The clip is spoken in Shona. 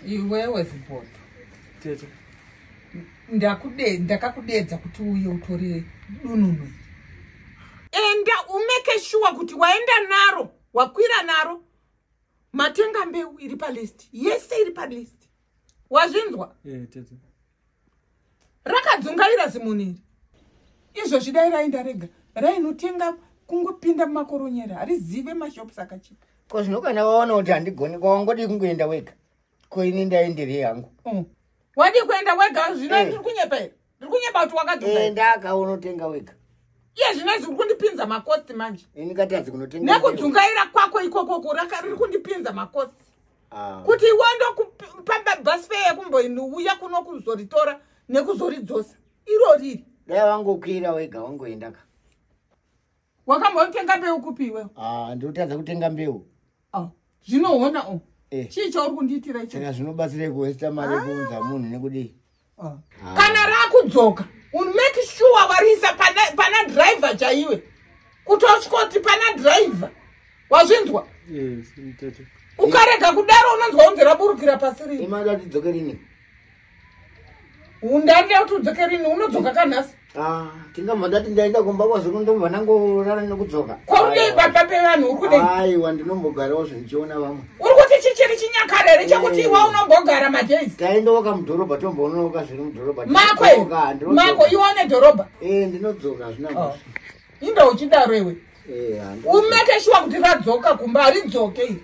iwewe zibodo tete ndakude ndakakudedza kuti uye utore dununu enda umeke shuwa kuti waenda naro wakwira naro matenga mbeu iri palist yese iri palist wazvinzwa yeah, rakadzungaira zimunhu iri izvozvi dai raenda rega rainotenga kungopinda mumakoronyera harizive mashops akachipa ko zvino kana waona kuti handigoni kwawangodii kungoenda wega ko ini ndaenderei hangu mm. wadii kuenda wega zvino eh. ndiri kunyepa here ndiri kunyepa kuti wakadzungaenda aka unotenga wega iye zvino izvi uri kundipinza makosti manje ini katadzi kunotenga nekudzungaira kwako ikokoko riri kundipinza makosti ah. kuti iwe ndokupa bus fare yekumboiuya kuno kuzoritora nekuzoridzosa iro riri dai wangokwira wega wangoenda ka wakambotenga mbeu kupi iwewe ah, ndotadza kutenga mbeu ah, zvinoona o eh. chii chauri kundiitira icho zvinobatsirei kuwesta mari yekuunza munhu nekudii ah. kana rakudzoka make sure wariisa pana, pana driver chaiwe kutosvikoti pana driver wazvinzwa yes, ukarega kudaro unonzwa unzi raburukira pasi rini undandira kuti udzoke rini unodzoka kanhasi Ah, tingabva ndati ndaenda kumba kwazvino ndobva ndangorara nekudzoka kwaunei pamba pevanhu uri kudei aiwa ndinombogarawo zvindichiona vamwe uri kuti chichiri chinyakare here chekuti iwa eh. unombogara madays taendoka mudhorobha tomboonoka zviri mudhorobha mako mako iwa une dhorobha e eh, ndinodzoka hazvina oh. inda uchidaro iwe eh, umekeshiwa kuti radzoka kumba haridzoke iri